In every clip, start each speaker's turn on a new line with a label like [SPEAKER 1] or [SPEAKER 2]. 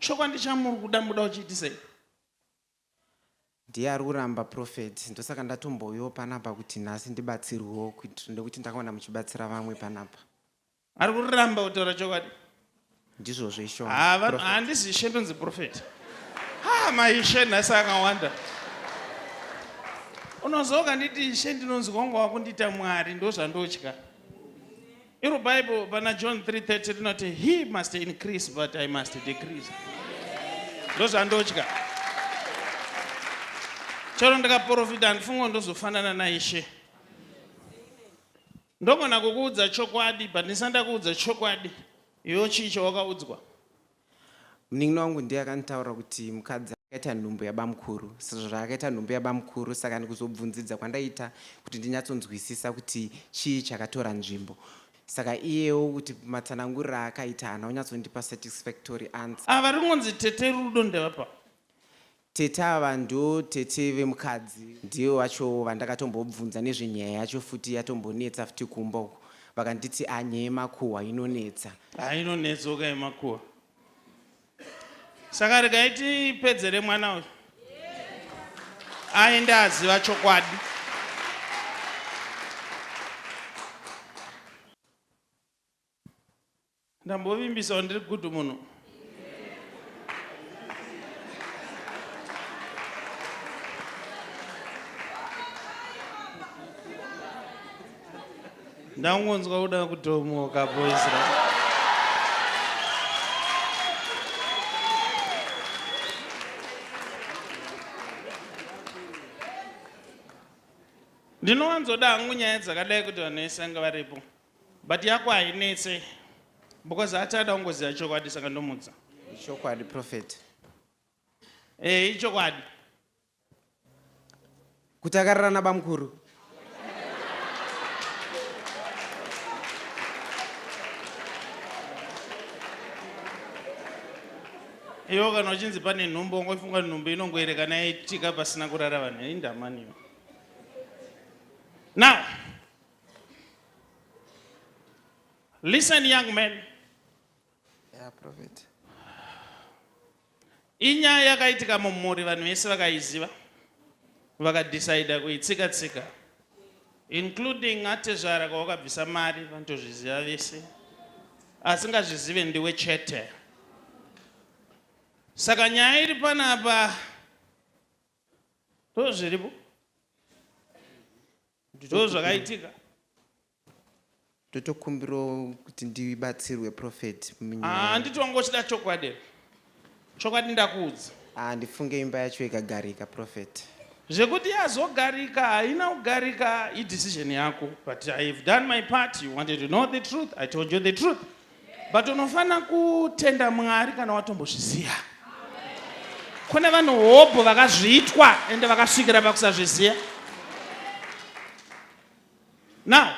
[SPEAKER 1] Chokwandi chamuri kuda muda uchiitisei?
[SPEAKER 2] Ndiye ari kuramba prophet ndosaka ndatombouyawo panapa kuti nhasi ndibatsirwewo kuitira nekuti ndakaona muchibatsira vamwe panapa. Ari
[SPEAKER 1] kuramba kutaura chokwadi? Ndizvozvo
[SPEAKER 2] isho. Ah, vanhu handisi ishe
[SPEAKER 1] ndonzi prophet. Ah, maishe nhasi akawanda. Unozoka nditi ishe ndinonzi kwangu wakundiita Mwari ndozvandotya. Iro Bible pana John 3:30 rinoti he must increase but I must decrease. Ndozvandotya. Chero ndikaprofita handifungo ndozofanana naIshe. Ndogona kukuudza chokwadi but ndisanda kuudza chokwadi. Iwe chii chawakaudzwa?
[SPEAKER 2] Munin'ina wangu ndiye akanditaurira kuti mukadzi akaita nhumbu yabamukuru. Sezvo akaita nhumbu yabamukuru saka ndikuzobvunzidza kwandaita kuti ndinyatsonzwisisa kuti chii chakatora nzvimbo. Saka iyewo kuti matsananguriro aakaita haana kunyatsondipa satisfactory answer. Ava ringonzi tete
[SPEAKER 1] Rudo ndevapa. Tete
[SPEAKER 2] ava ndo tete vemukadzi. Ndivo vacho vandakatombobvunza nezvenyaya yacho futi yatombonetsa futi kumba uko vakanditi ah nyaya yemakuhwa inonetsa. Haa inonetsoka
[SPEAKER 1] yemakuhwa. Saka regai tipedzere mwana uyu aende aziva chokwadi. Ndambovimbisa ndiri good munhu. Ndangonzwa kuda kutomoka boys right? ndinowanzoda hangu nyaya dzakadai kuti vanhu vese vanga varipo But yako hainetse because hati ada kungoziva chokwadi saka ndomudza. Ichokwadi prophet.
[SPEAKER 2] Eh,
[SPEAKER 1] ichokwadi.
[SPEAKER 2] Kuti akarara nabamkuru.
[SPEAKER 1] Iwo kana uchinzi pane nhumbu ungofunga nhumbu inongoerekana yaitika pasina kurara vanhu indamaniwo. Now Listen young man.
[SPEAKER 2] Yeah, prophet.
[SPEAKER 1] Inyaya yakaitika mumhuri vanhu vese vakaiziva vakadecida kuitsika tsika including atezvara kwawakabvisa mari vanotozviziva vese asingazvizive ndiwe chete saka nyaya iri panapa Ndozviripo. Ndozvakaitika.
[SPEAKER 2] Ndotokumbirawo kuti ndibatsirwe prophet munyaya. Ah, handiti wanga
[SPEAKER 1] uchida chokwadi here? Chokwadi ndakuudza. Ah, ndifunge imba
[SPEAKER 2] yacho ikagarika prophet. Zvekuti
[SPEAKER 1] yazogarika haina kugarika idecision yako but I have done my part. You wanted to know the truth. I told you the truth. but unofanira kutenda mwari kana watombozviziva kune vanhu hobho vakazviitwa ende vakasvikira pakusazviziva now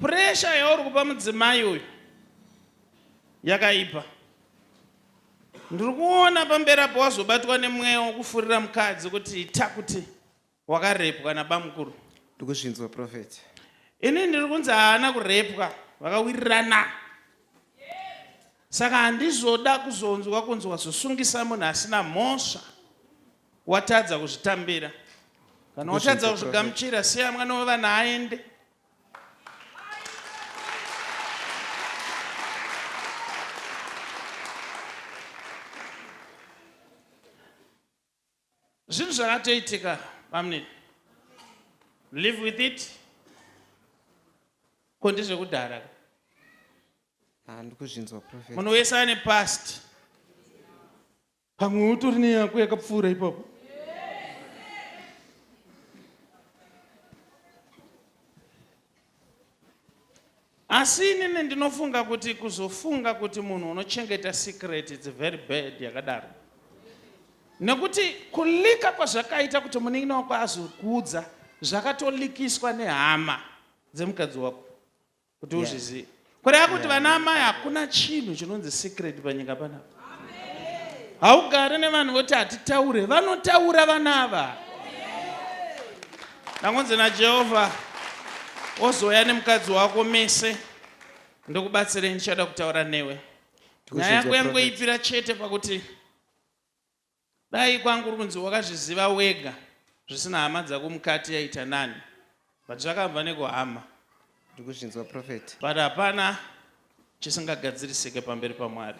[SPEAKER 1] puresha yauri kupa mudzimai uyu yakaipa ndiri kuona pamberi apo wazobatwa nemweya wokufurira mukadzi kuti ita kuti Wakarepwa nabamukuru? Ndikuzvinzwa
[SPEAKER 2] prophet. Ini ndiri
[SPEAKER 1] kunzi haana kurepwa, vakawirirana. Saka handizoda kuzonzwa kunzi wazosungisa munhu asina mhosva, watadza kuzvitambira. Kana watadza kuzvigamuchira, siya mwana wevana aende. Zvinhu zvakatoitika bamunini. Live with it. Ko ndezvekudhara. Ah,
[SPEAKER 2] ndikuzvinzwa prophet. Munhu wese ane past.
[SPEAKER 1] Pamwe utori neyako yakapfuura ipapo. Asi inini ndinofunga kuti kuzofunga kuti munhu unochengeta secret it's very bad yakadaro. Nekuti kulika kwazvakaita kuti munin'ina wako azokuudza zvakatolikiswa nehama dzemukadzi wako kuti uzvizive. Kureva kuti vana amai hakuna chinhu chinonzi secret panyika panapa. Haugare nevanhu voti hatitaure, vanotaura vana ava. Ndangonzi naJehovha ozouya nemukadzi wako mese ndokubatsirei ndichada kutaura newe. Nyaya yako yangoipira chete pakuti Dai kwanga kuri kunzi wakazviziva wega zvisina hama dzako mukati yaita nani but zvakabva nekuhama. Ndikuzvinzwa prophet.
[SPEAKER 2] But hapana
[SPEAKER 1] chisingagadzirisike
[SPEAKER 2] pamberi
[SPEAKER 1] paMwari.